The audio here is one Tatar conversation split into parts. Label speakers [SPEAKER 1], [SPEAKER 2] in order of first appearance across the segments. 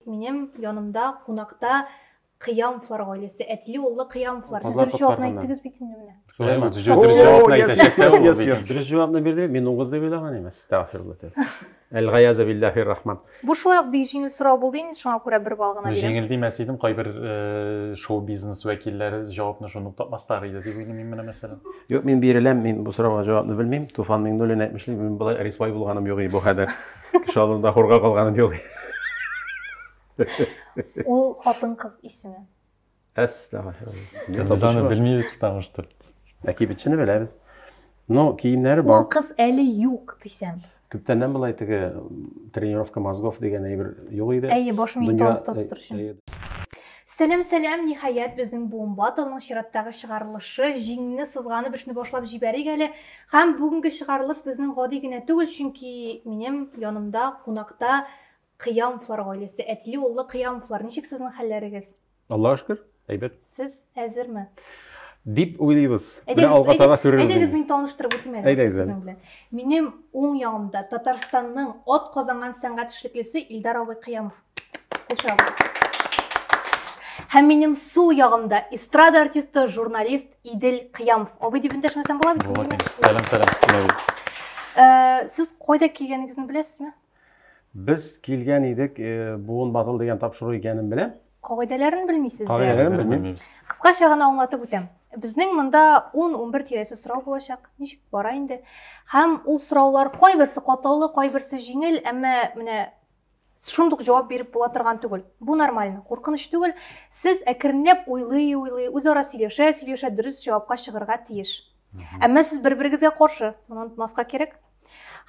[SPEAKER 1] Минем янымда кунакта Кыямовлар гаиләсе, әтиле уллы Кыямовлар. Сез Базар дөрес җавапны коткарганнар. әйттегез бит инде менә. Шулай ма? Дөрес О, җавапны yes, әйтәчәк yes, тә yes, ул yes,
[SPEAKER 2] бит. yes. Дөрес җавапны бирде, мин угыз дип уйлаган имеш. Стәгъфирулла тәб. Әл-Гаяза билләһир рахман. Бу шулай ук бик җиңел
[SPEAKER 1] сорау булды инде, шуңа күрә бер балл гына бирәм. Җиңел димәс идем, кайбер
[SPEAKER 3] э, шоу-бизнес вәкилләре җавапны шуны ук тапмаслар иде дип уйлыйм мин менә мәсәлән. Юк, мин биреләм,
[SPEAKER 2] мин бу сорауга җавапны белмим. Туфан Миңнуллин әйтмешли, мин болай рисвай булганым юк и бу хәдер. Кеше алдында хорга калганым юк.
[SPEAKER 1] Ул хатын кыз исеме.
[SPEAKER 2] Әстәгфирулла. Аны
[SPEAKER 3] белмибез потому что. Ә кибетчене
[SPEAKER 2] беләбез. Но киемнәре бар. Ул кыз әле юк
[SPEAKER 1] дисәм. Күптәннән былай теге
[SPEAKER 2] тренировка мозгов дигән әйбер юк иде. Әйе, баш миен тонуста
[SPEAKER 1] тотыр өчен. Сәләм, сәләм, ниһаять безнең бомбатоның чираттагы чыгарылышы, җиңне сызганып эшне башлап җибәрик әле. Һәм бүгенге чыгарылыш безнең гади генә түгел, чөнки минем янымда кунакта Кыямовлар гаиләсе, әтиле уллы Кыямовлар. Ничек сезнең хәлләрегез? Аллага шөкер,
[SPEAKER 2] әйбәт. Сез әзерме?
[SPEAKER 1] Дип
[SPEAKER 2] уйлыйбыз. Менә алга таба күрербез. Әйдәгез, мин таныштырып үтим
[SPEAKER 1] әле сезнең белән. Минем уң ягымда Татарстанның ат казанган сәнгать эшлеклесе Илдар абый Кыямов. Һәм минем сул ягымда эстрада артисты, журналист Идел Кыямов. Абый дип эндәшмәсәм була бит. Була. Сәлам, сәлам.
[SPEAKER 3] Э,
[SPEAKER 1] сез кайда килгәнегезне беләсезме? Без
[SPEAKER 2] килгән идек, э, буын батыл дигән тапшыру икәнен беләм. Кагыйдәләрен белмисез?
[SPEAKER 1] Кагыйдәләрен белмим.
[SPEAKER 2] Кыскача гына аңлатып
[SPEAKER 1] үтәм. Безнең монда 10-11 тирәсе сорау булачак. Ничек бара инде? Һәм ул сораулар кайберсе катлаулы, кайберсе җиңел, әмма менә Шундук җавап биреп була торган түгел. Бу нормально, куркыныч түгел. Сез әкренләп уйлый-уйлый, үзара сөйләшә-сөйләшә дөрес җавапка чыгарга тиеш. Әмма сез бер-берегезгә каршы, моны онытмаска кирәк.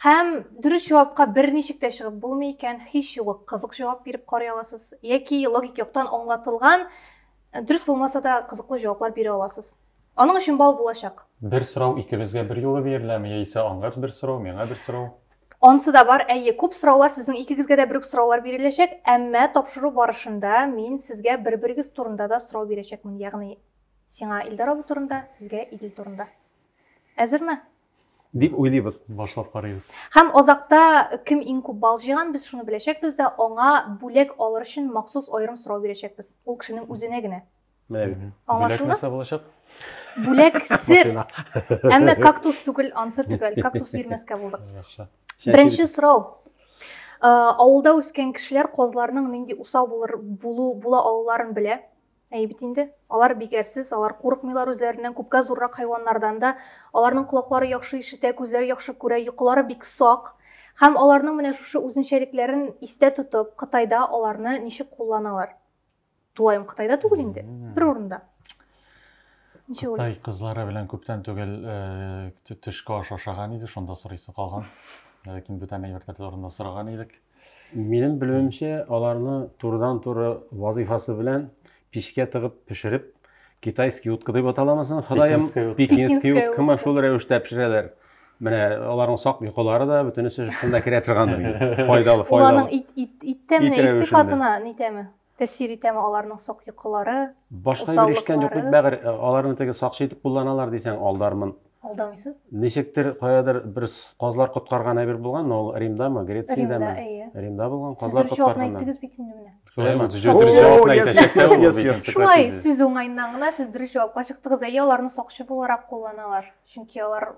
[SPEAKER 1] Һәм дөрес җавапка берничек тә чыгып булмый икән, һич югы кызык җавап биреп карый аласыз яки логик яктан аңлатылган дөрес булмаса да кызыклы җаваплар бирә аласыз. Аның өчен бал булачак. Бер сорау икебезгә
[SPEAKER 3] бер юлы биреләме, яисә аңарс бер сорау, миңа бер сорау? Ансы да бар,
[SPEAKER 1] әйе, күп сораулар сезнең икегезгә дә бер үк сораулар биреләчәк, әмма тапшыру барышында мин сезгә бер-берегез турында да сорау бирәчәкмен, ягъни сиңа Илдар абый турында, сезгә Идел турында. Әзерме? Дип
[SPEAKER 2] уйлыйбыз. Башлап карыйбыз.
[SPEAKER 3] Һәм азакта
[SPEAKER 1] кем иң күп бал җыйган, без шуны беләчәкбез дә, аңа бүләк алыр өчен махсус аерым сорау бирәчәкбез. Ул кешенең үзенә генә. Менә
[SPEAKER 2] бит. Аңлашылды? булачак.
[SPEAKER 3] Бүләк
[SPEAKER 1] сер. Әмма кактус түгел, ансыр түгел. Кактус бирмәскә булдык. Яхшы. Беренче
[SPEAKER 3] сорау.
[SPEAKER 1] Э, авылда үскән кешеләр козларның нинди усал булыр булу була алуларын белә. Әй бит инде. Алар бигәрсез, алар курыкмыйлар үзләреннән, күпкә зуррак хайваннардан да. Аларның колаклары яхшы ишетә, күзләре яхшы күрә, йокылары бик сак. Һәм аларның менә шушы үзенчәлекләрен истә тотып, Кытайда аларны ничек кулланалар? Тулаем Кытайда түгел инде, бер урында. Ничә Кытай уйлыйсыз? кызлары
[SPEAKER 3] белән күптән
[SPEAKER 1] түгел
[SPEAKER 3] э, тө- төшке аш ашаган иде, шунда сорыйсы калган. Ләкин бүтән әйберләр турында сораган идек. Минем
[SPEAKER 2] белүемчә, аларны турыдан-туры вазыйфасы белән пичкә тыгып пешереп, китайский утка дип аталамы соң, Ходаем, Пекинская утка. пекинский Пекинская уткамы утка. шул рәвештә пешерәләр. Менә аларның сак йокылары да бөтенесе шунда керә торгандыр инде. Файдалы, файдалы. Аларның ит ит
[SPEAKER 1] иттә менә ит сыйфатына нитәме? Тәсир итәме аларның сак йокылары? Башка бер эштән
[SPEAKER 2] юк бит бәгыр, э, аларны теге сакчы итеп кулланалар дисәң алдармын. Алдамыйсыз?
[SPEAKER 1] Ничектер каядыр
[SPEAKER 2] бер казлар коткарган әйбер булган, ул Римдамы, Грециядәме? Римда, әйе. Римда булган
[SPEAKER 1] казлар
[SPEAKER 2] коткарган.
[SPEAKER 1] Сез дөрес бит инде менә. Шулаймы? Дөрес җавапны әйтәчәк. Шулай сүз уңаеннан гына сез дөрес җавапка чыктыгыз. Әйе, аларны сакчы буларак кулланалар. Чөнки алар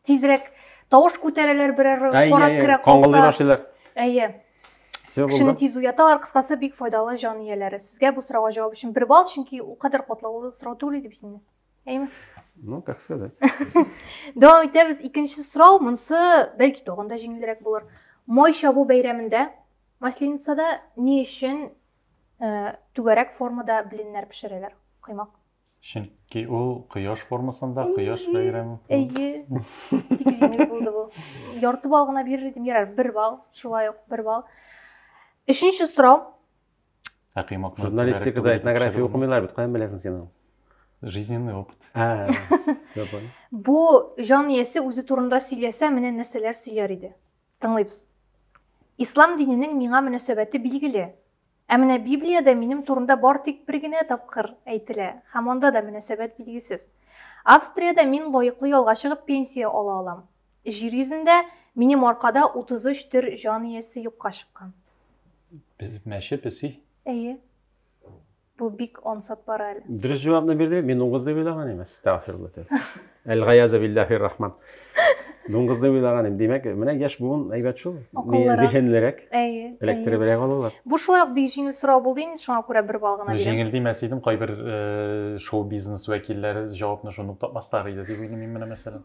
[SPEAKER 1] тизрәк тавыш күтәрәләр берәр карак керә калса. Әйе. Кешене тиз уяталар, кыскасы бик файдалы җан ияләре. Сезгә бу сорауга җавап өчен бер балл, чөнки ул кадәр катлаулы сорау түгел иде бит инде. Әйме? Ну, как
[SPEAKER 2] сказать. Дәвам
[SPEAKER 1] итәбез. Икенче сорау, монсы бәлки тагын да җиңелрәк булыр. Май чабу бәйрәмендә Масленицада ни өчен э, түгәрәк формада блиннар пешерәләр? Каймак. Чөнки
[SPEAKER 3] ул кояш формасында, кояш бәйрәм. Әйе. Бик җиңел
[SPEAKER 1] булды бу. Ярты бал гына бирер идем, ярар, бер бал, шулай ук бер бал. Өченче сорау. Ә
[SPEAKER 3] кыймакны журналистикада
[SPEAKER 2] этнография укымыйлар бит, каян беләсең син аны? Жизненный
[SPEAKER 3] опыт. А, все понял. Бу
[SPEAKER 1] җан иясе үзе турында сөйләсә, менә нәрсәләр сөйләр иде. Тыңлыйбыз. Ислам диненең миңа мөнәсәбәте билгеле. Ә менә Библиядә минем турында бар тик бер генә тапкыр әйтелә, һәм анда да мөнәсәбәт билгесез. Австриядә мин лаеклы ялга чыгып пенсия ала алам. Җир йөзендә минем аркада 33 төр җан иясе юкка чыккан. Без
[SPEAKER 3] мәче песи. Әйе.
[SPEAKER 1] Бу бик ансат бара әле. Дөрес җавапны бирде,
[SPEAKER 2] мин угыз дип уйлаган имас. Тәгъфирлы тел. Әлгаяза биллахи рахман. Дуңгызны уйлаганым. Димәк, менә яшь буын әйбәт шул. Акыллырак. Зиһенлерәк. Әйе. Эләктеребрәк алалар. Бу шулай ук бик җиңел
[SPEAKER 1] сорау булды инде, шуңа күрә бер балл гына бирәм. Җиңел димәс идем, кайбер
[SPEAKER 3] э, шоу-бизнес вәкилләре җавапны шуны ук тапмаслар иде дип уйлыйм мин менә мәсәлән.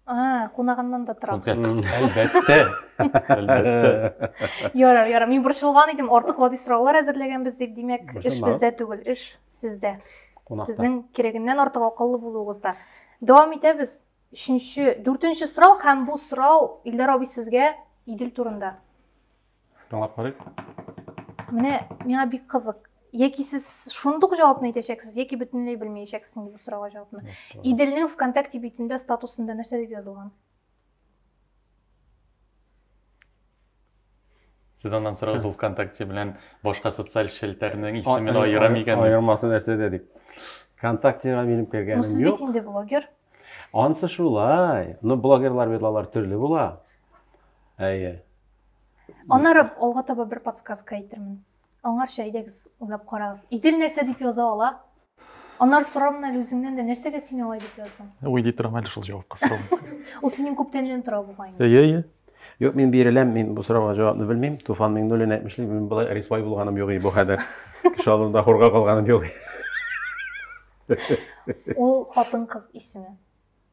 [SPEAKER 3] А, кунагыннан
[SPEAKER 1] да тора. Әлбәттә. Әлбәттә. Ярар, ярар. Мин борчылган идем, артык гади сораулар әзерләгәнбез дип, димәк, эш бездә түгел, эш Сездә. Кунакта. Сезнең кирәгеннән артык акыллы булуыгызда. Дәвам итәбез. Өченче, дүртенче сорау һәм бу сорау Илдар абый сезгә Идел турында. Тыңлап
[SPEAKER 3] карыйк. Менә
[SPEAKER 1] миңа бик кызык. Яки сез шундук җавапны әйтәчәксез, яки бөтенләй белмәячәксез инде бу сорауга җавапны. Иделнең ВКонтакте битендә статусында нәрсә дип язылган?
[SPEAKER 3] Сез аннан сорагыз ул ВКонтакте белән башка социаль челтәрнең исемен аера микән? Аермасы нәрсәдә дип.
[SPEAKER 2] ВКонтактега минем кергәнем юк. Ну сез бит инде блогер.
[SPEAKER 1] Ансы
[SPEAKER 2] шулай. Ну блогерлар бит алар төрле була. Әйе.
[SPEAKER 1] Аннары алга таба бер подсказка әйтермен. Аңарча әйдәгез уйлап карагыз. Идел нәрсә дип яза ала? Анар сорам әле үзеңнән дә нәрсәгә син алай дип яздың? Уйлый торам әле шул
[SPEAKER 3] җавапка сорау. Ул синең күптәннән
[SPEAKER 1] тора бугай. Әйе, әйе.
[SPEAKER 3] Юк, мин
[SPEAKER 2] биреләм, мин бу сорауга җавапны белмим. Туфан Миңнуллин әйтмешли, мин болай рисвай булганым юк бу хәдер. Кеше алдында хурга калганым юк.
[SPEAKER 1] Ул хатын-кыз исеме.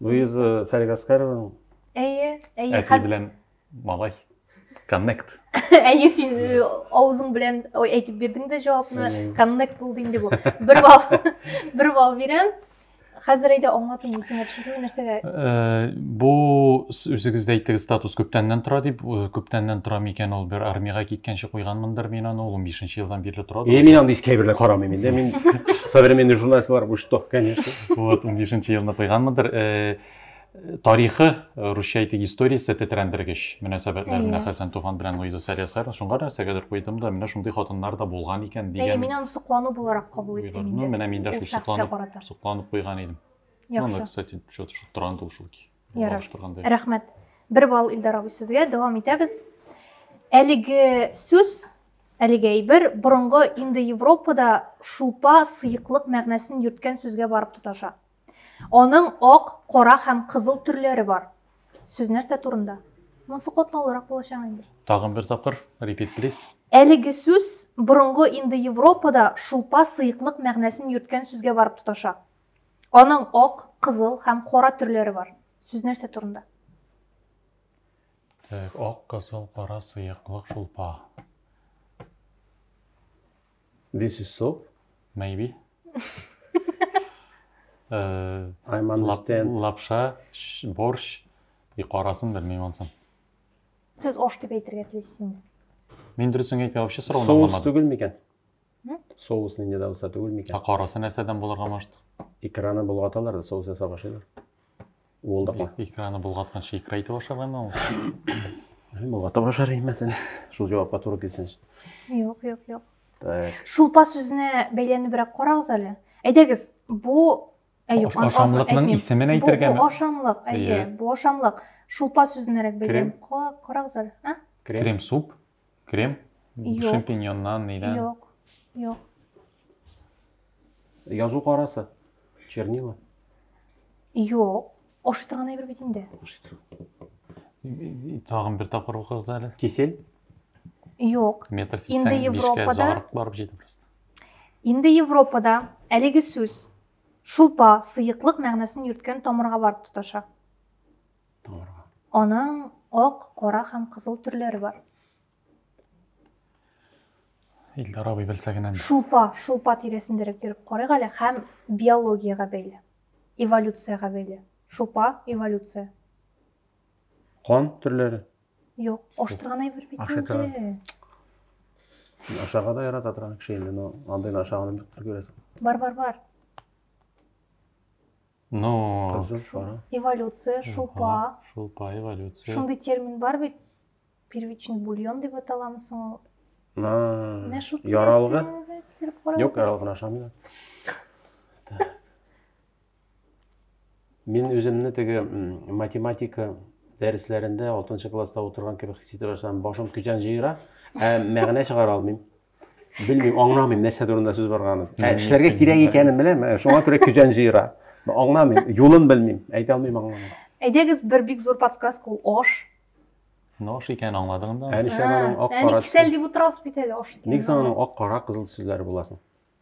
[SPEAKER 2] Луиза Фәрик Аскарованың Әйе,
[SPEAKER 3] әйе. Әти белән малай. Коннект. Әйе, син
[SPEAKER 1] э, авызың белән әйтеп бирдең дә җавапны. Коннект булды инде бу. Бер бал, бер бал бирәм. Хәзер әйдә аңлату нисеңә төшерү нәрсәгә? Э, бу
[SPEAKER 3] үзегез дә әйттегез, статус күптәннән тора дип, э, күптәннән тора микән ул бер армиягә киткәнче куйганмындыр мин аны, ул 15 елдан бирле тора. Е, мин андый искә берлә карамыйм
[SPEAKER 2] инде. Мин современный журналист бар, бу что, конечно. вот унбишенче
[SPEAKER 3] елны куйганмындыр э, тарихы э, русча әйтик историясе тетрәндергеч мөнәсәбәтләренә хәсән туфан белән луиза сәриясгар шуңа нәрсәгәдер куйдым да менә шундый хатыннар да булган икән дигән мин аны соклану буларак
[SPEAKER 1] кабул иттем ну менә мин дә шул сокланып
[SPEAKER 3] сокланып куйган идем яхшы кстати что то шутранды ушел Ярый. Рәхмәт.
[SPEAKER 1] Бер бал Илдар абый сезгә. Дәвам итәбез. Әлеге сүз, әлеге әйбер борынгы инде Европада шулпа, сыеклык мәгънәсен йөрткән сүзгә барып тоташа. Аның ак, кара һәм кызыл төрләре бар. Сүз нәрсә турында? Монсы катлаулырак булачак инде. Тагын бер тапкыр,
[SPEAKER 3] repeat please. Әлеге сүз
[SPEAKER 1] борынгы инде Европада шулпа, сыеклык мәгънәсен йөрткән сүзгә барып тоташа. Аның ак, кызыл һәм кара төрләре бар. Сүз нәрсә турында?
[SPEAKER 3] Так, ак, кызыл, кара сыяклык шулпа.
[SPEAKER 2] This is soap? Maybe. Э, I'm understand. Лапша, борщ,
[SPEAKER 3] и карасын белмим ансын. Сез
[SPEAKER 1] ош дип әйтергә телисез инде. Мин дөресен
[SPEAKER 3] әйтмәм, вообще сорауны аңламадым. Соус түгел микән?
[SPEAKER 2] Соус нинди дә булса түгел микән? Ә карасы нәрсәдән булырга
[SPEAKER 3] может? Икраны болгаталар
[SPEAKER 2] да соус ясап ашыйлар. Ул да кат. Икраны булгатканчы
[SPEAKER 3] икра итеп ашаргамы ул?
[SPEAKER 2] Болгатып ашар имәсен. Шул җавапка туры килсен. Юк, юк, юк. Так.
[SPEAKER 1] Шулпа сүзенә бәйләнебрәк карагыз әле. Әйдәгез, бу Әйүк, ашамлыкның
[SPEAKER 3] исемен әйтергә Бу ашамлык, әйе,
[SPEAKER 1] бу ашамлык. Шулпа сүзенәрәк бәйләнеп карагыз әле. Крем суп.
[SPEAKER 3] Крем? Юк. Шампиньоннан, нидән? Юк. Юк.
[SPEAKER 2] Язу карасы. Чернила.
[SPEAKER 1] Юк. Ашый торган әйбер бит инде.
[SPEAKER 3] Тагын бер тапкыр укыгыз әле. Кисел?
[SPEAKER 2] Юк.
[SPEAKER 1] Метр 85-кә
[SPEAKER 3] зарык барып җитә просто. Инде
[SPEAKER 1] Европада әлеге сүз шулпа, сыеклык мәгънәсен йөрткән тамырга барып тоташа. табарга. Аның ак, кара һәм кызыл төрләре бар.
[SPEAKER 3] Илдар абый белсә генә. Шулпа, шулпа тирәсендәрәк
[SPEAKER 1] йөреп карыйк әле һәм биологиягә бәйле, эволюциягә бәйле. Шулпа, эволюция. Кан
[SPEAKER 2] төрләре?
[SPEAKER 1] Юк, аштырган әйбер
[SPEAKER 2] бит инде. Ашага да ярата торган кеше инде, но андыйны ашаганын бик күрәсең. Бар, бар, бар.
[SPEAKER 3] Ну, Кызыл шара.
[SPEAKER 2] Эволюция, шулпа.
[SPEAKER 1] Шулпа, эволюция.
[SPEAKER 3] Шундый термин бар бит.
[SPEAKER 1] Первичный бульон дип аталамы соң ул? Менә шул яралгы.
[SPEAKER 2] Юк,
[SPEAKER 1] яралгын ашамыйлар.
[SPEAKER 2] Мин үземне теге математика дәресләрендә 6 класста утырган кебек хис итә башладым. Башым көзән җыера, ә мәгънә чыгара алмыйм. белмим аңламыйм нәрсә турында сүз барганын ә эшләргә кирәк икәнен беләм ә шуңа күрә көзән җыера аңламыйм юлын белмим әйтә алмыйм аңламыйм әйдәгез бер бик
[SPEAKER 1] зур подсказка ул аш ну аш
[SPEAKER 3] икәнен аңладың да ә нишләп аның ак кара
[SPEAKER 2] әни кисәл дип утырасыз
[SPEAKER 1] бит
[SPEAKER 2] әле
[SPEAKER 1] аш ник соң аның ак кара
[SPEAKER 2] кызыл төсләре буласын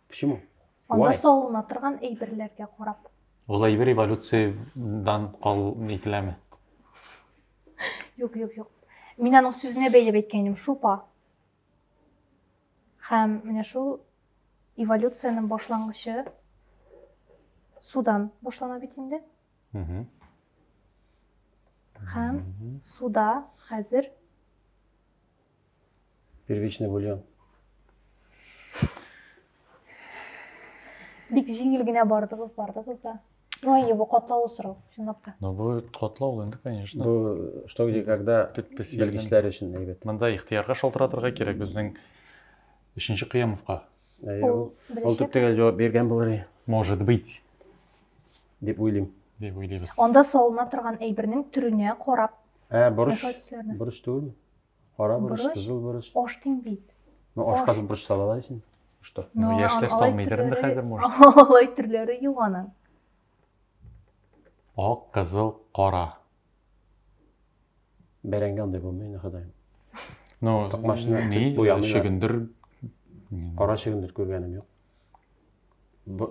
[SPEAKER 2] почему анда салына
[SPEAKER 1] торган әйберләргә карап ул әйбер
[SPEAKER 3] эволюциядән кал ителәме
[SPEAKER 1] юк юк юк мин аның сүзенә бәйләп әйткән идем шулпа Һәм менә шул эволюциянең башлангычы судан башлана бит инде. Һәм суда хәзер
[SPEAKER 2] первичный бульон.
[SPEAKER 1] Бик җиңел генә бардыгыз, бардыгыз да. Ну, әйе, бу катлаулы сорау, чынлап та. Ну, бу катлаулы
[SPEAKER 3] инде, конечно. Бу что где
[SPEAKER 2] когда белгечләр өчен әйбәт. Монда ихтыярга шалтыратырга
[SPEAKER 3] кирәк безнең өченче Кыямовка. Әйе,
[SPEAKER 2] ул төп төгәл җавап биргән булыр. Может быть. Дип уйлыйм. Дип уйлыйбыз. Анда
[SPEAKER 3] салына торган
[SPEAKER 1] әйбернең төренә карап. Ә, борыч.
[SPEAKER 2] Борыч
[SPEAKER 1] түгел.
[SPEAKER 2] Кара борыч, Борыч, кызыл борыч. Аш дим бит.
[SPEAKER 1] Ну, аш. ашка борыч
[SPEAKER 2] салалар исен. Что? Ну, Но яшьләр алай салмыйдыр
[SPEAKER 3] инде төрләре- хәзер, может. Алай төрләре
[SPEAKER 1] юк аның.
[SPEAKER 3] Ак, кызыл, кара.
[SPEAKER 2] Бәрәңге андай булмый инде, ходаем. Ну,
[SPEAKER 3] Токмачны ни, күп
[SPEAKER 2] буямыйлар. чөгендер.
[SPEAKER 3] Кара
[SPEAKER 2] чөгендер күргәнем юк. Б-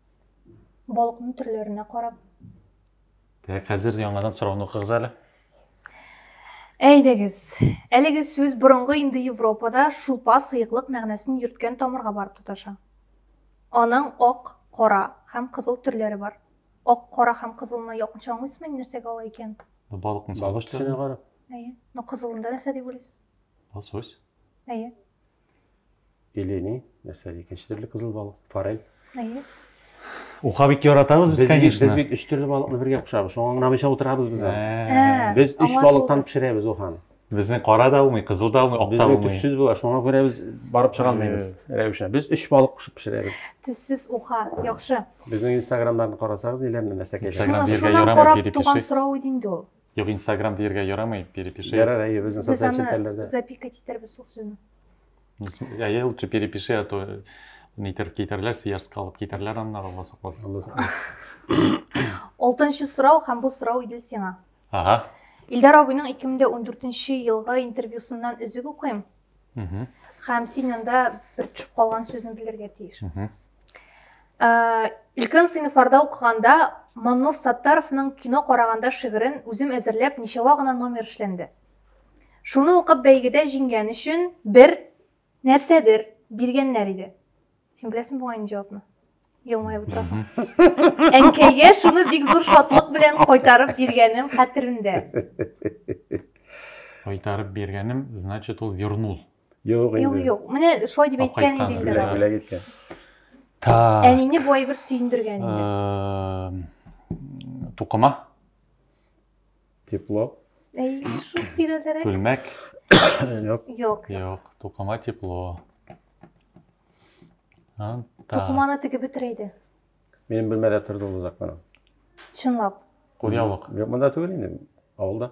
[SPEAKER 1] Балыкның төрләренә карап. Дәк
[SPEAKER 3] хәзер яңадан сорауны укыгыз әле. Әйдәгез,
[SPEAKER 1] әлеге сүз борынгы инде Европада шулпа сыеклык мәгънәсен йөрткән тамырга барып тоташа. Аның ак, кара һәм кызыл төрләре бар. Ак, кара һәм кызылны якынча аңлыйсызмы инде нәрсәгә ала икән? Балыкның сагыш
[SPEAKER 3] төсенә карап.
[SPEAKER 2] Әйе. Но кызылында
[SPEAKER 1] нәрсә дип уйлыйсыз? Лосось.
[SPEAKER 3] Әйе.
[SPEAKER 2] Или ни, нәрсә икенче төрле кызыл балык, форель. Әйе.
[SPEAKER 1] Уха
[SPEAKER 3] бик яратабыз без, конечно. Без бит өч
[SPEAKER 2] төрле
[SPEAKER 3] балыкны бергә
[SPEAKER 2] пешерәбез. Шуңа гына утырабыз без. Ә. Без өч
[SPEAKER 1] балыктан
[SPEAKER 2] пешерәбез уханы. Безнең кара да
[SPEAKER 3] алмый, кызыл да алмый, ак та алмый. Төссез була, шуңа күрә без
[SPEAKER 2] барып чыга алмыйбыз. Рәвешә. Без өч балык пешеп пешерәбез. Төссез уха,
[SPEAKER 1] яхшы. Безнең инстаграмнарны
[SPEAKER 2] карасагыз, иләмне мәсәкәй. Инстаграм биргә ярамый
[SPEAKER 3] дип пишик. Туган
[SPEAKER 1] сорау
[SPEAKER 3] иде
[SPEAKER 1] инде
[SPEAKER 3] ул.
[SPEAKER 1] Юк, Инстаграм диергә
[SPEAKER 3] ярамый, перепиши. Ярар, әйе, безнең социаль
[SPEAKER 2] челтәрләрдә. Без
[SPEAKER 1] запикать итәрбез
[SPEAKER 2] шул
[SPEAKER 1] сүзне. Әйе,
[SPEAKER 3] лучше перепиши, а то нитер китәрләр, сияжска алып китәрләр аннары, Алла сакласын.
[SPEAKER 1] Алтынчы сорау һәм бу сорау Идел сиңа. Ага.
[SPEAKER 3] Илдар абыйның
[SPEAKER 1] 2014 елгы интервьюсыннан өзек укыйм. Һәм син анда бер төшеп калган сүзне белергә тиеш. Э, өлкән сыйныфларда укыганда маннур саттаровның кино караганда шигырен үзем әзерләп ничәва гына номер эшләнде шуны укып бәйгедә җиңгән өчен бер нәрсәдер биргәннәр иде син беләсең бугай инде җавапны елмаеп утырасың әнкәйгә шуны бик зур шатлык белән кайтарып биргәнем хәтеремдә
[SPEAKER 3] кайтарып биргәнем значит ул вернул Юк инде. Юк,
[SPEAKER 2] юк. Менә шулай дип
[SPEAKER 1] әйткән иде инде. Бүләк, бүләк иткән.
[SPEAKER 2] Та.
[SPEAKER 3] Әнине бу әйбер
[SPEAKER 1] сөендергән инде.
[SPEAKER 3] Тукыма.
[SPEAKER 2] Тепло. Әй, шул
[SPEAKER 1] тирәдәрәк. Күлмәк.
[SPEAKER 3] Юк.
[SPEAKER 2] Юк. Юк,
[SPEAKER 1] тукыма
[SPEAKER 3] тепло.
[SPEAKER 1] Тукыманы тегеп бетерә иде. Минем бүлмәдә
[SPEAKER 2] торды ул озак кына. Чынлап.
[SPEAKER 1] Кулъяулык.
[SPEAKER 3] Юк, монда түгел инде,
[SPEAKER 2] авылда.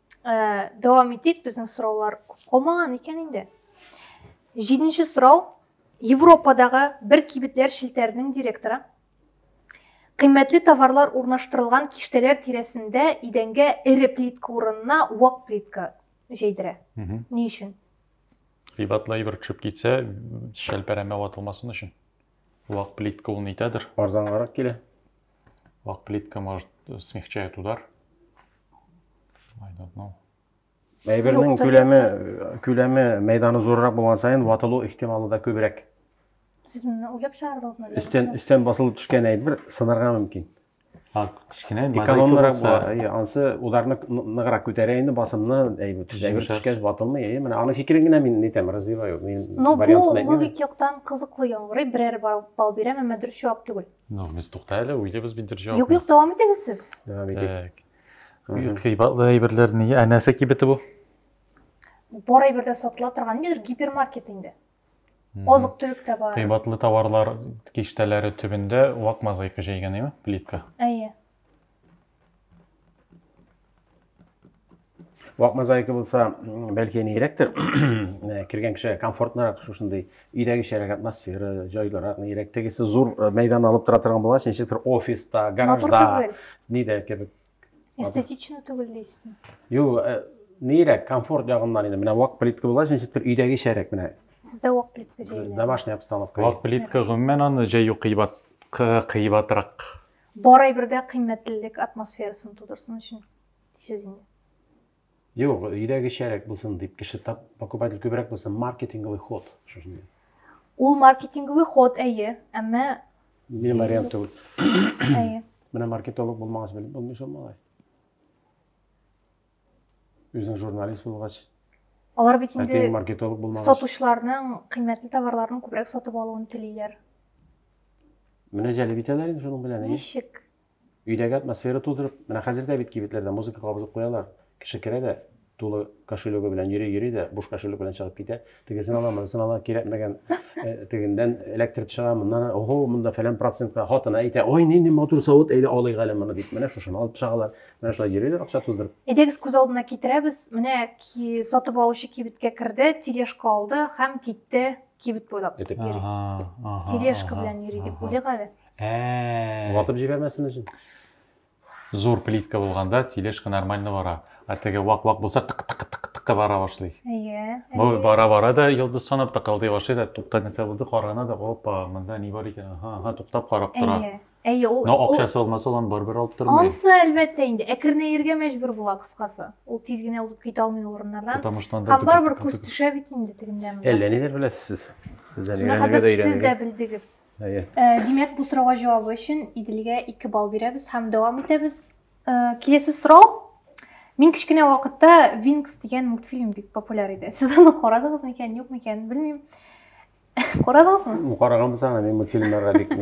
[SPEAKER 1] ә, дәвам итик безнең сораулар күп калмаган икән инде җиденче сорау европадағы бер кибетләр челтәренең директоры кыйммәтле товарлар урнаштырылган киштәләр тирәсендә идәнгә эре плитка урынына вак плитка җәйдерә ни өчен кыйбатлы
[SPEAKER 3] әйбер төшеп китсә шәлпәрәмә ватылмасын өчен вак плитка ул нитәдер арзангарак килә
[SPEAKER 2] Вак
[SPEAKER 3] плитка, может, смягчает удар. I don't know. Әйбернең
[SPEAKER 2] күләме, күләме мәйданы зуррак булган сайын ватылу ихтималы да күбрәк. Сез моны
[SPEAKER 1] уйлап чыгардыгызмы? Өстен өстен басылып төшкән
[SPEAKER 2] әйбер сынарга мөмкин. А, кечкенә
[SPEAKER 3] экономнырак була.
[SPEAKER 2] Әйе, ансы ударны ныграк күтәрә инде басымны әйбер төшкәч ватылмый. Әйе, менә аның фикерен генә мин нитәм, развиваю. Мин вариантны. Ну,
[SPEAKER 1] бу логик яктан кызыклы яңгырый, берәр бал бирәм, әмма дөрес җавап түгел. Ну, без тукта әле,
[SPEAKER 3] уйлыйбыз бит бер җавап. Юк, юк, дәвам итегез сез.
[SPEAKER 1] Дәвам итик.
[SPEAKER 3] Кыйбатлы әйберләр ни? Ә нәрсә кибете бу?
[SPEAKER 1] Бар әйберләр сатыла торган нидер гипермаркет инде. Азык төлек тә бар. Кыйбатлы товарлар
[SPEAKER 3] киштәләре төбендә вак мозаика җәйгән, әйме? Плитка. Әйе.
[SPEAKER 2] вак мозаика булса бәлки нирәктер кергән кешегә комфортнырак шушындый өйдәгечәрәк атмосфера җайлырак нирәк тегесе зур э, мәйдан алып тора торган булгач ничектер офиста гаражда нидә кебек эстетично
[SPEAKER 1] түгел дисезме юк
[SPEAKER 2] э, нирәк комфорт ягыннан инде менә вак плитка булгач ничектер өйдәгечәрәк менә сездә вак
[SPEAKER 1] плитка җәйли домашняя обстановка вак
[SPEAKER 2] плитка гомумән
[SPEAKER 3] аны җәю кыйбат кыйбатрак Бар
[SPEAKER 1] әйбердә кыйммәтлелек атмосферасын тудырсын өчен дисез инде. Юк,
[SPEAKER 2] өйдә кечерәк булсын дип, кеше тап, покупатель күбрәк булсын, маркетинговый ход. Шушындый.
[SPEAKER 1] Ул маркетинговый ход, әйе, әмма... Мин вариант
[SPEAKER 2] түгел. Әйе.
[SPEAKER 1] Менә маркетолог
[SPEAKER 2] булмагач белеп булмый шул малай. Үзең журналист булгач, Алар бит
[SPEAKER 1] инде әтең маркетолог булмагач.
[SPEAKER 2] Сатучыларның
[SPEAKER 1] кыйммәтле товарларын күбрәк сатып алуын телиләр.
[SPEAKER 2] Менә җәлеп итәләр инде шуның белән. Ничек?
[SPEAKER 1] Өйдәге
[SPEAKER 2] атмосфера тудырып, менә хәзер дә бит кибетләрдә музыка кабызып куялар. Кеше керә дә, тулы кошелегы белән йөри-йөри дә, буш кошелек белән чыгып китә. тегесен ала, монысын ала, кирәкмәгән э, тегендән эләктереп чыга, моннан ого, монда фәлән процентка хатына әйтә, ой, нинди матур савыт, әйдә алыйк әле моны дип, менә шушыны алып чыгалар, менә шулай йөриләр акча туздырып. Әйдәгез күз алдына
[SPEAKER 1] китерәбез, менә ки, сатып алучы кибеткә керде, тележка алды һәм китте кибет буйлап. Этеп. Тележка белән йөри дип уйлыйк әле. Ә. Ватып
[SPEAKER 2] җибәрмәсен өчен. Зур
[SPEAKER 3] плитка булганда тележка нормально бара. Ә теге вак-вак булса тык-тык-тык-тык бара башлый. Әйе. Бу бара-бара да йолдыз санап тыкылдый башлый да тукта нәрсә булды карана да опа, монда ни бар икән? Ага, ага, туктап карап тора. Әйе. Әйе, ул Но акчасы булмаса ул барбер алып тормый. Ансы әлбәттә инде
[SPEAKER 1] әкренәергә мәҗбүр була кыскасы. Ул тиз генә узып китә алмый ул урыннардан. Потому что анда барбер күз төшә бит инде тегендә. Әллә ниләр беләсез сез.
[SPEAKER 2] Сездән өйрәнергә дә
[SPEAKER 1] өйрәнергә. Сез дә белдегез. Әйе. Э, димәк, бу сорауга җавабы өчен Иделгә 2 балл бирәбез һәм дәвам итәбез. Э, киләсе сорау. Мин кечкенә вакытта Винкс дигән мультфильм бик популяр иде. Сез аны карадыгыз микән, юк микән, белмим. Карадыгызмы? Караган булсаң, мин
[SPEAKER 2] мультфильмнарга бик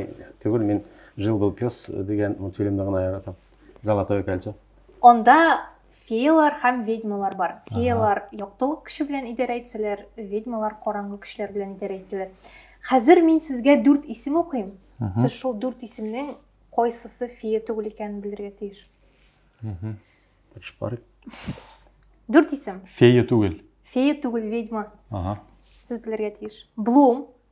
[SPEAKER 2] түгел, мин Жил был пес дигән мультфильмны гына яратам. Золотое кольцо. Анда
[SPEAKER 1] Феялар һәм ведьмалар бар. Феялар яктылык көче белән идарә итсәләр, ведьмалар караңгы көчләр белән идарә итәләр. Хәзер мин сезгә дүрт исем укыйм. Сез шул дүрт исемнең кайсысы фея түгел икәнен белергә тиеш. Тырышып Дүрт исем. Фея түгел.
[SPEAKER 3] Фея түгел, ведьма.
[SPEAKER 1] Ага. Сез белергә тиеш. Блум,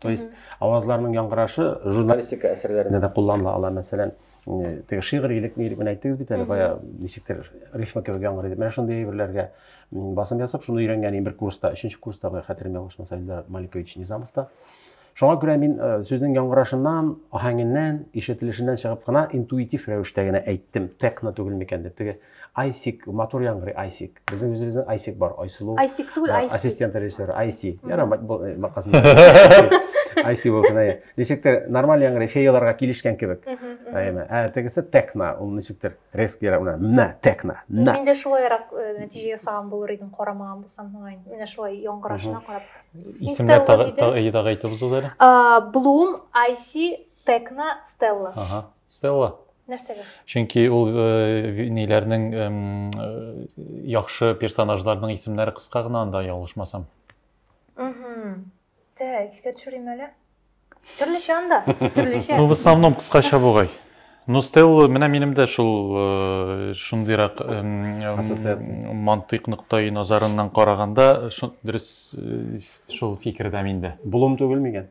[SPEAKER 2] То есть авазларның яңгырашы журналистика әсәрләрендә дә кулланыла ала, мәсәлән, теге шигырилек ни дип әйттегез бит әле, бая ничектер рифма кебек яңгыр итеп. Менә шундый әйберләргә басым ясап, шуны өйрәнгән бер курста, өченче курста бая хәтерем ялгышмаса, Илдар Маликович Низамовта. Шуңа күрә мин э, сүзнең яңгырашыннан, аһәңеннән, ишетелешеннән чыгып кына интуитив рәвештә генә әйттем, текно түгел микән дип. Теге Айсик, матур яңгырый, Айсик. Безнең үзебезнең Айсик бар, Айсылу. Айсик түгел, Айси. Ассистент
[SPEAKER 1] режиссер, Айси.
[SPEAKER 2] Яра, бакасын. Айси булсын, әйе. Ничектер, нормаль яңгырый, феяларга килешкән кебек. Әйеме. Ә тегесе текна, ул ничектер, резк яра, уна, на, текна, на. Мин дә шулай ярак
[SPEAKER 1] э, нәтиҗә ясаган булыр идем, карамаган булсам, мөгаен. Менә шулай яңгырашына
[SPEAKER 3] карап. Исемнәр тагы әйтеп узыгыз әле. Блум,
[SPEAKER 1] Айси, Текна Стелла. Ага, Стелла.
[SPEAKER 3] Нәрсәгә?
[SPEAKER 1] Чөнки ул
[SPEAKER 3] э, ниләрнең э, яхшы персонажларның исемнәре кыска гына анда ялгышмасам. Угу.
[SPEAKER 1] Тә, искә төшерим әле. Төрлечә анда, төрлечә. Ну, в основном кыскача
[SPEAKER 3] бугай. Ну, Стелла, менә минем дә шул э, шундыйрак ассоциация. Мантыйк ноктай назарыннан караганда, дөрес э, шул фикердә миндә. Булым түгел мигән?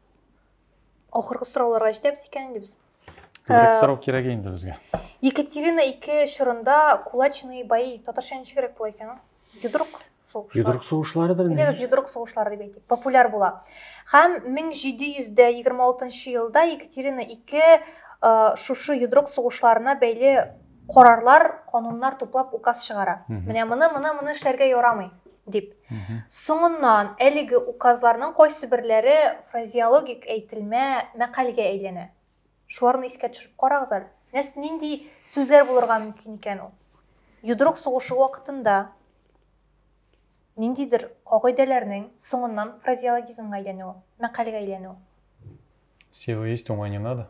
[SPEAKER 1] Ахыргы сорауларга җитәбез икән инде без. Күбрәк сорау
[SPEAKER 3] кирәк инде безгә. Екатерина
[SPEAKER 1] ике чорында кулачные бои. Татарча ничегрәк була икән ул? Йодрык сугышлар. Йодрык сугышларыдыр
[SPEAKER 2] инде. Дигез йодрык сугышлары дип әйтик.
[SPEAKER 1] Популяр була. Һәм 1726 елда Екатерина II шушы йодрык сугышларына бәйле карарлар, кануннар туплап указ чыгара. Менә моны, моны, моны эшләргә ярамый дип. Соңыннан әлеге указларның кайсы берләре фразеологик әйтелмә мәкальгә әйләнә. Шуларны искә төшереп карагыз әле. Нәрс нинди сүзләр булырга мөмкин икән ул? Йодрык сугышы вакытында ниндидер кагыйдәләрнең соңыннан фразеологизмга әйләнүе, мәкальгә әйләнүе.
[SPEAKER 3] Сила есть, ума не надо.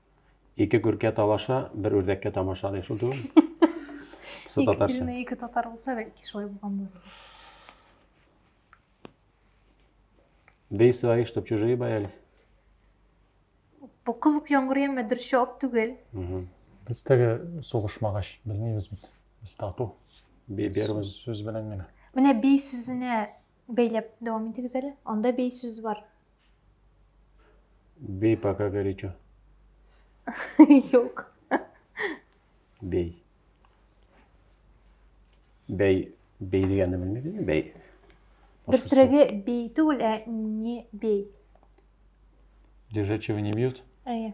[SPEAKER 3] Ике күркә
[SPEAKER 2] талаша, бер үрдәккә тамаша дигән шул түгел? Ике
[SPEAKER 1] татарча. ике татар булса, бәлки шулай булган булыр.
[SPEAKER 2] Бей своих, чтобы чужие боялись.
[SPEAKER 1] Бу кызык яңгыр яме дөрес җавап түгел. Без
[SPEAKER 3] теге сугышмагач белмибез бит. Без тату. Бей первым.
[SPEAKER 2] Сүз белән генә.
[SPEAKER 3] Менә бей сүзенә
[SPEAKER 1] Бәйләп дәвам итегез әле. Анда бей сүз бар.
[SPEAKER 2] Бей пока горячо. Юк. Бей. Бей. Бей дигәнне белмидеңме? Бей. Дөресрәге
[SPEAKER 1] бей түгел, ә не бей. Лежачего
[SPEAKER 3] не бьют? Әйе.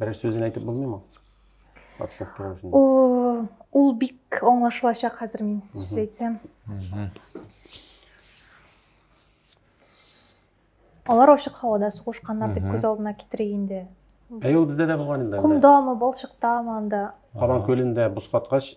[SPEAKER 2] Берәр сүзен әйтеп булмыймы? Подсказкалар өчен. О, ул
[SPEAKER 1] бик аңлашылачак хәзер мин сүз әйтсәм. Алар ачык һавада сугышканнар дип күз алдына китерик инде. Әй, ул бездә дә
[SPEAKER 2] булган инде. Кумдамы, балчыктамы
[SPEAKER 1] анда? Кабан көлендә бус
[SPEAKER 2] каткач,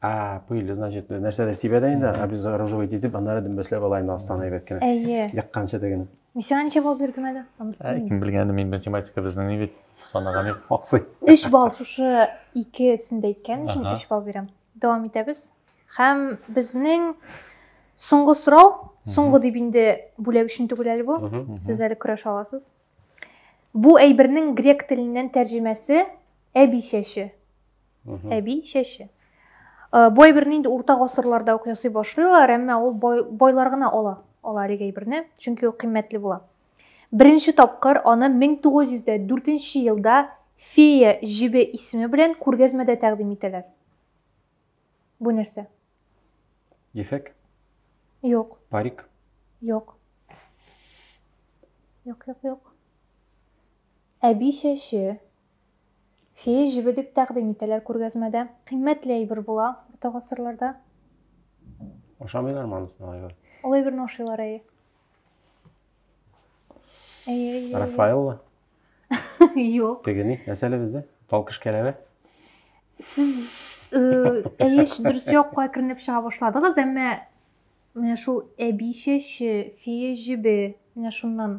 [SPEAKER 1] А,
[SPEAKER 2] пыли, значит, нәрсә дә сибә дә инде, обезоруживать итеп, аннары дөмбәсләп ала инде астан әйбәт кенә. Әйе. Якканчы диген. Мисиңа ничә балл бирдем
[SPEAKER 1] әле? Ә, кем белгәнде мин
[SPEAKER 3] математика безнең ни бит, санаган юк, аксый. Өч
[SPEAKER 1] балл шушы икесен дә әйткән
[SPEAKER 3] өчен
[SPEAKER 1] өч балл бирәм. Дәвам итәбез. Һәм безнең соңгы сорау, соңгы дип инде бүләк өчен түгел әле бу. Сез әле көрәш аласыз. Бу әйбернең грек теленнән тәрҗемәсе әби чәче. әби чәче бай берне инде урта гасырларда ук ясый башлыйлар әмма ул байлар гына ала ала әлеге әйберне чөнки ул кыйммәтле була беренче тапкыр аны 1904 елда фея җебе исеме белән күргәзмәдә тәкъдим итәләр бу нәрсә
[SPEAKER 2] ефәк
[SPEAKER 1] юк парик юк
[SPEAKER 2] юк
[SPEAKER 1] юк юк әби чәче Фея җебе дип тәкъдим итәләр күргәзмәдә. Кыйммәтле әйбер була урта гасырларда.
[SPEAKER 2] Ашамыйлармы анысын алай гына? Ул әйберне ашыйлар,
[SPEAKER 1] әйе.
[SPEAKER 2] Әйе, әйе. Рафаэлла?
[SPEAKER 1] Юк. Тегени, нәрсә әле
[SPEAKER 2] бездә? Тал кешкәләре? Сез
[SPEAKER 1] әйе, дөрес якка керенеп чыга башладыгыз, әмма менә шул әби чәче, фея җебе, менә шуннан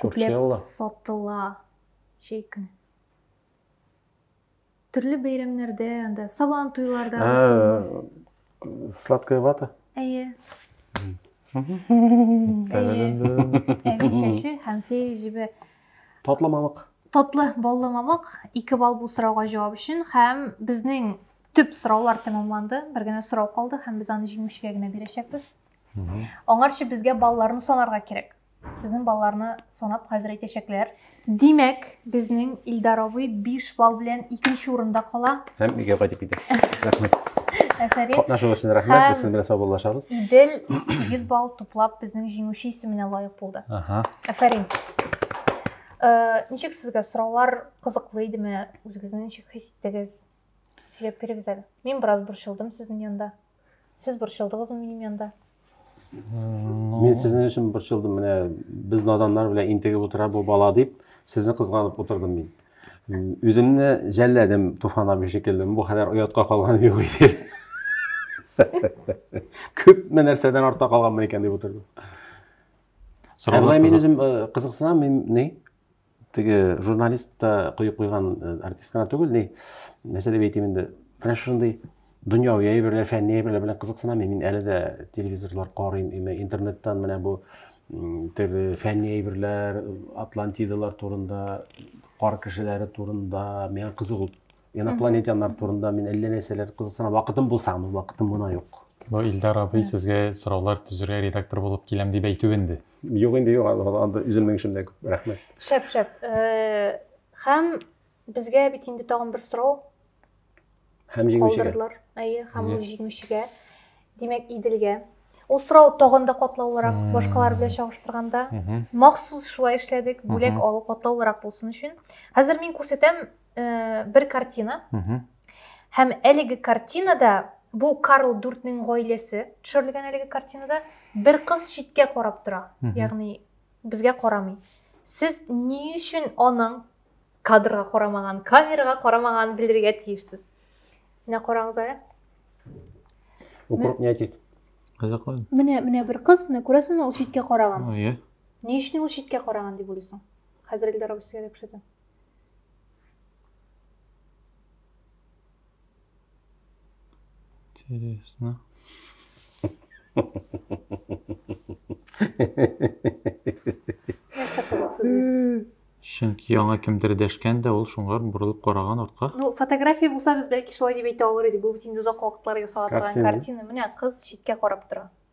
[SPEAKER 1] Күпләп
[SPEAKER 2] сатыла
[SPEAKER 1] чәй көне. Төрле бәйрәмнәрдә, анда сабан туйларда.
[SPEAKER 2] Сладкая вата? Әйе. Әби чәче һәм
[SPEAKER 1] фей җебе. Татлы мамык.
[SPEAKER 2] Татлы баллы
[SPEAKER 1] мамык. Ике балл бу сорауга җавап өчен һәм безнең төп сораулар тәмамланды. Бер генә сорау калды һәм без аны җиңүчегә генә бирәчәкбез. Аңарчы безгә балларны санарга кирәк. Безнең балларны санап хәзер әйтәчәкләр. Димәк, безнең Илдар абый 5 балл белән икенче урында кала. Һәм өйгә кайтып китә.
[SPEAKER 2] Рәхмәт. Әфәрин.
[SPEAKER 1] Катнашу өчен рәхмәт.
[SPEAKER 2] Без сезнең белән саубуллашабыз. Идел
[SPEAKER 1] 8 балл туплап безнең җиңүче исеменә лаек булды. Ага. Әфәрин. Э, ничек сезгә сораулар кызыклы идеме? Үзегезне ничек хис иттегез? Сөйләп бирегез әле. Мин бераз борчылдым сезнең янда. Сез борчылдыгызмы минем янда?
[SPEAKER 2] Мин сезнең өчен борчылдым. Менә без наданнар белән интегеп утыра бу бала дип, сезне кызганып утырдым мин. Үземне жәлләдем Туфан абый шикелле. Бу хәлләр оятка калган юк иде. Күпме нәрсәдән артта калганмын икән дип утырдым. Ә мин үзем кызыксынам, мин ни? теге журналист та кое куйган э, артист кына түгел ни нәрсә дип әйтим инде менә шушындый дөньяви әйберләр фәнни әйберләр белән кызыксынамыйм мин әле дә телевизорлар карыйм имә интернеттан менә бу теге фәнни әйберләр атлантидалар турында кар кешеләре турында миңа кызык ул инопланетяннар турында мин әллә нәрсәләр кызыксына вакытым булса гына вакытым гына юк бу илдар абый
[SPEAKER 3] сезгә сораулар төзергә редактор булып киләм дип әйтү инде юк инде юк
[SPEAKER 2] анда үземнең эшем дә күп рәхмәт шәп шәп э,
[SPEAKER 1] һәм безгә бит инде тагын бер сорау
[SPEAKER 2] һәм җиңүчегә әйе һәм ул
[SPEAKER 1] җиңүчегә димәк иделгә ул сорау тагын да катлаулырак башкалар белән чагыштырганда махсус шулай эшләдек бүләк алу катлаулырак булсын өчен хәзер мин күрсәтәм э, бер картина һәм әлеге картинада бу карл дүртнең гаиләсе төшерелгән әлеге картинада бер кыз читкә карап тора ягъни безгә карамый сез ни өчен аның кадрга карамаган камерага карамаган белергә тиешсез менә карагыз әле
[SPEAKER 2] укроп не айтит кызыклы
[SPEAKER 3] менә менә бер кыз
[SPEAKER 1] менә күрәсеңме ул читкә караган иә ни
[SPEAKER 3] өчен ул читкә
[SPEAKER 1] караган дип уйлыйсың хәзер эльдар абый
[SPEAKER 3] Интересно.
[SPEAKER 1] Чөнки яңа
[SPEAKER 3] кемдер дәшкән дә ул шуңар борылып караган артка. Ну, фотография булса
[SPEAKER 1] без бәлки шулай дип әйтә алыр идек. Бу бит инде озак вакытлар ясала торган картина. Менә кыз читкә карап тора.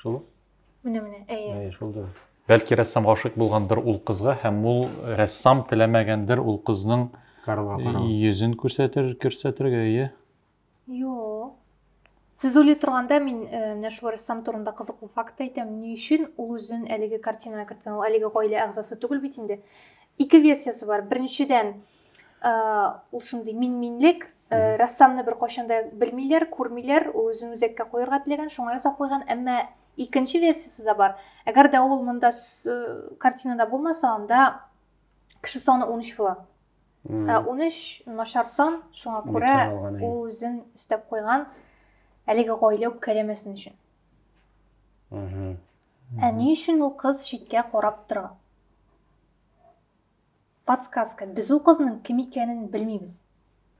[SPEAKER 2] Шул? Менә, менә, әйе.
[SPEAKER 1] Әйе, шул дөрес.
[SPEAKER 2] Бәлки рәссам гашыйк
[SPEAKER 3] булгандыр ул кызга һәм ул рәссам теләмәгәндер ул кызның йөзен күрсәтер, күрсәтергә, әйе? Юк.
[SPEAKER 1] Сез уйлый торганда мин э, менә шул рәссам турында кызыклы факт әйтәм. Ни өчен ул үзен әлеге картинага керткән? Ул әлеге гаилә әгъзасы түгел бит инде. Ике версиясе бар. Беренчедән, ул шундый мин-минлек рәссамны бер кайчанда белмиләр күрмиләр ул үзен үзәккә куярга теләгән шуңа ясап куйган әмма икенче версиясе дә бар әгәр дә ул монда картинада булмаса анда кеше саны унөч була унөч начар сан шуңа күрә ул үзен өстәп куйган әлеге гаилә үпкәләмәсен өчен ә ни өчен ул кыз читкә карап тора Подсказка, без ул кызның кем икәнен белмибез.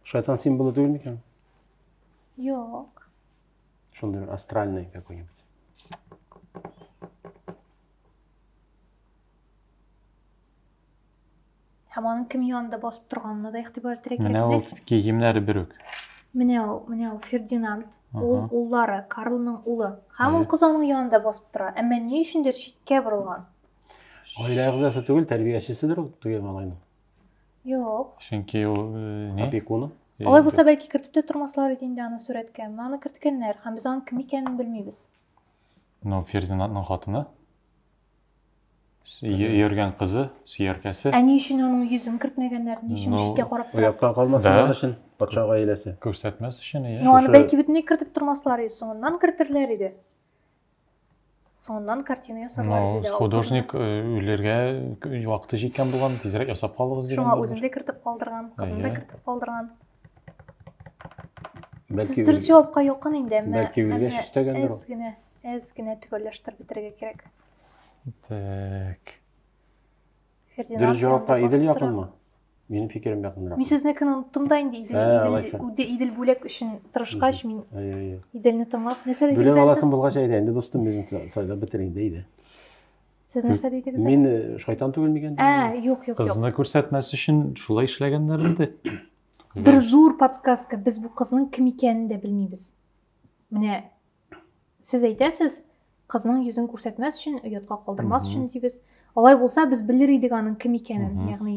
[SPEAKER 1] Шайтан символы
[SPEAKER 2] түгел микән?
[SPEAKER 1] Юк.
[SPEAKER 2] Шундый бер астральный какой-нибудь.
[SPEAKER 1] Һәм аның кем янында басып торганына да игътибар итәргә кирәк. Менә ул киемнәре
[SPEAKER 3] бер үк. Менә ул, менә
[SPEAKER 1] ул Фердинанд, ул уллары, Карлның улы. Һәм ул кыз аның янында басып тора. Әмма ни өчендер читкә борылган. Гаилә
[SPEAKER 2] әгъзасы түгел, тәрбиячеседер ул теге малайның. Юк.
[SPEAKER 1] Чөнки ул э,
[SPEAKER 3] ни? Опекуны. Алай
[SPEAKER 2] булса, бәлки
[SPEAKER 1] кертеп тә тормаслар иде инде аны сурәткә. Менә аны керткәннәр, һәм без аның кем икәнен белмибез. Ну,
[SPEAKER 3] Ферзинатның хатыны. С- йө- Йөргән кызы, сөяркәсе. Ә ни өчен аның йөзен
[SPEAKER 1] кертмәгәннәр? Ни өчен Ну, читкә карап тора? Оятка калмасыннар Да. өчен
[SPEAKER 2] патша гаиләсе. Күрсәтмәс өчен, иә. Ну,
[SPEAKER 3] аны шушы- бәлки бөтенләй
[SPEAKER 1] кертеп тормаслар иде, соңыннан кертерләр иде. соңыннан картина ясарлар ну, диде художник э,
[SPEAKER 3] үләргә вакыты җиткән булган тизрәк ясап калыгыз дигән шуңа үзен дә кертеп калдырган
[SPEAKER 1] кызын да кертеп калдырган
[SPEAKER 2] бәлки сез дөрес җавапка якын
[SPEAKER 1] инде әмма бәлки үлгәч өстәгәндер
[SPEAKER 2] әз генә әз генә
[SPEAKER 1] төгәлләштереп бетерергә кирәк
[SPEAKER 3] так
[SPEAKER 2] Фердинанд Дөрес җавапка янында Идел басып тора. якынмы? Минем фикерем якынрак. Мин сезнекін оныттым да
[SPEAKER 1] инде Идел, Ә, Идел, алайса. Үде- Идел бүләк өчен тырышкач мин Әйе, әйе. Иделне тыңлап. Нәрсә Бүләк дидегез әле аласың сез? булгач әйдә, инде
[SPEAKER 2] дустым үзен са- сайлап бетер инде, әйдә. Сез
[SPEAKER 1] нәрсә дидегез? әле? Мин э, шайтан түгел
[SPEAKER 2] микән? Ә, юк, юк, юк. Кызны
[SPEAKER 1] күрсәтмәс
[SPEAKER 3] өчен шулай эшләгәннәр инде. Бер
[SPEAKER 1] зур подсказка, без бу кызның кем икәнен дә белмибез. Менә сез әйтәсез кызның йөзен күрсәтмәс өчен оятка калдырмас өчен дибез алай булса без белер идек аның кем икәнен ягъни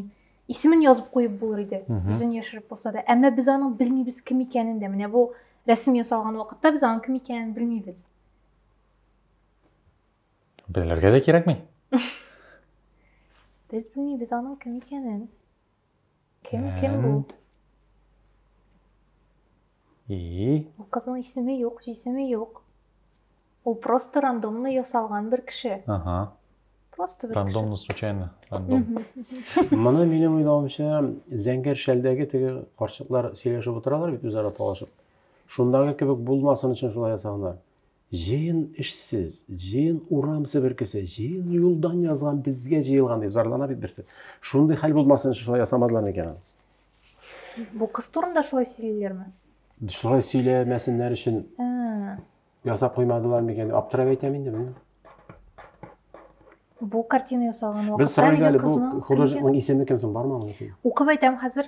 [SPEAKER 1] исемен язып куеп булыр иде йөзен яшереп булса да әмма без аның белмибез кем икәнен дә менә бу рәсем ясалган вакытта без аның кем икәнен белмибез
[SPEAKER 3] белергә дә кирәкми
[SPEAKER 1] без белмибез аның кем икәнен Кем, кем бу? И. Бу кызның исеме юк, җисеме юк. Ул просто рандомно ясалган бер кеше. Ага. Просто бер Рандомно, случайно. Рандом.
[SPEAKER 3] Моны
[SPEAKER 2] минем уйлавымча, Зәңгәр шәлдәге теге карчыклар сөйләшеп утыралар бит үзара талашып. Шундагы кебек булмасын өчен шулай ясаганнар. Җыен эшсез, җыен урам себеркесе, җыен юлдан язган безгә җыелган дип зарлана бит берсе. Шундый хәл булмасын өчен шулай ясамадылар микән аны?
[SPEAKER 1] Бу кыз турында шулай сөйлиләрме? Шулай
[SPEAKER 2] сөйләмәсеннәр өчен ясап куймадылар микән? Аптырап әйтәм инде мин.
[SPEAKER 1] Бу картина ясалган вакытта әлеге кызның Без сорыйбыз әле, бу художникның
[SPEAKER 2] исеме кем соң, бармы аның исеме? Укып әйтәм хәзер.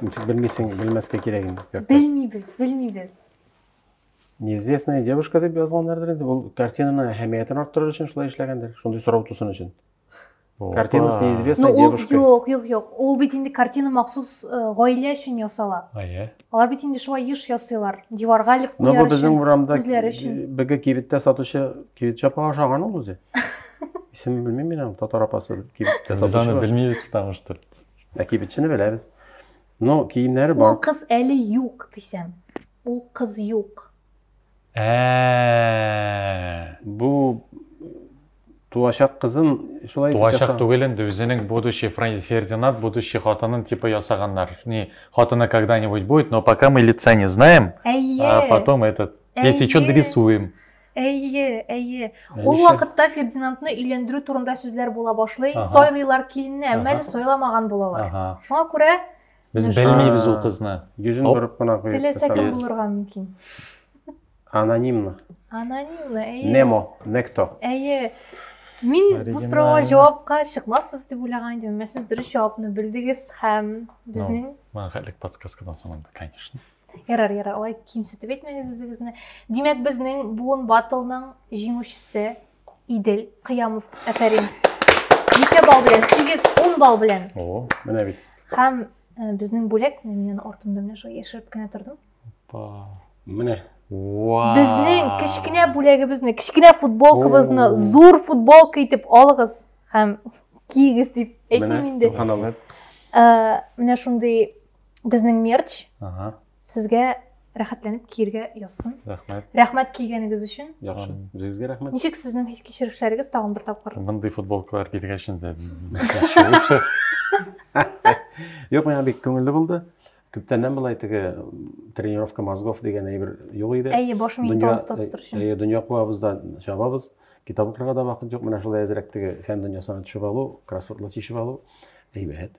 [SPEAKER 3] Ничек
[SPEAKER 2] белмисең, белмәскә кирәк инде. картина. Белмибез, белмибез. Неизвестная девушка дип язганнардыр инде. Ул картинаның әһәмиятен арттырыр өчен шулай эшләгәндер. Шундый сорау тусын өчен. Картина с Ну, неизвестной ул девушкой. юк, юк, юк. Ул бит
[SPEAKER 1] инде картина махсус э, гаилә өчен ясала. Әйе. Алар бит инде шулай еш ясыйлар. Диварга элеп Но бу куяр безнең өчен. урамда үзләре
[SPEAKER 2] өчен. беге кибеттә сатучы кибет чапа ашаган ул үзе. Исемен белмим мин аның татар апасы
[SPEAKER 3] кибеттә Без
[SPEAKER 2] сатучы. аны бар.
[SPEAKER 3] белмибез,
[SPEAKER 2] потому что. Ә
[SPEAKER 3] кибетчене
[SPEAKER 2] беләбез. Но киемнәре бар. Ул кыз әле
[SPEAKER 1] юк дисәм. Ул кыз юк. Ә.
[SPEAKER 2] Бу туачак кызын шулай Туачак түгел инде,
[SPEAKER 3] үзенең будущий Фердинанд, будущий хатынын типа ясаганнар. Не, хатыны когда-нибудь будет, но пока мы лица не знаем. А потом этот, если что, дорисуем. Әйе,
[SPEAKER 1] әйе. Ул вакытта Фердинандны өйләндерү турында сүзләр була башлый. Сайлыйлар киленне, әмма әле сайламаган булалар. Шуңа күрә без белмибез
[SPEAKER 3] ул кызны. Йөзен борып кына
[SPEAKER 2] куеп. Теләсә кем булырга
[SPEAKER 1] мөмкин.
[SPEAKER 2] Анонимно. Анонимно,
[SPEAKER 1] әйе. Немо, некто.
[SPEAKER 2] Әйе.
[SPEAKER 1] Мин бу сорауга җавапка чыкмассыз дип уйлаган идем, әмма сез дөрес җавапны белдегез һәм безнең Мәңгелек подсказкадан
[SPEAKER 3] соң инде, конечно. Ярар, ярар, алай
[SPEAKER 1] кимсетеп әйтмәгез үзегезне. Димәк, безнең буын батылның җиңүчесе Идел Кыямов. Афәрин. Ничә балл белән? 8, 10 балл белән. О, менә бит.
[SPEAKER 3] Һәм
[SPEAKER 2] э,
[SPEAKER 1] безнең бүләк, мин аны артымда менә шулай яшереп кенә тордым. Опа.
[SPEAKER 2] Менә. Вау.
[SPEAKER 1] Безнең кечкенә бүләгебезне, кечкенә футболкабызны зур футболка итеп алыгыз һәм кигез дип әйтмим инде. Менә шундый Безнең мерч. Ага. Сезгә рәхәтләнеп киергә язсын. Рәхмәт. Рәхмәт
[SPEAKER 3] кигәнегез
[SPEAKER 1] өчен. Яхшы. Үзегезгә
[SPEAKER 2] рәхмәт. Ничек сезнең хис
[SPEAKER 1] кичерешләрегез тагын бер тапкыр? Мондый футболкалар
[SPEAKER 3] килгәч инде.
[SPEAKER 2] Юк, миңа бик күңелле булды. Күптәннән былай теге тренировка мозгов дигән әйбер юк иде. Әйе, баш миен тонуста
[SPEAKER 1] тотыр өчен. Әйе, дөнья куабыз да
[SPEAKER 2] чабабыз. Китап укырга да вакыт юк. Менә шулай әзрәк теге фән дөньясына төшеп алу, кроссвордлар чишеп алу. Әйбәт.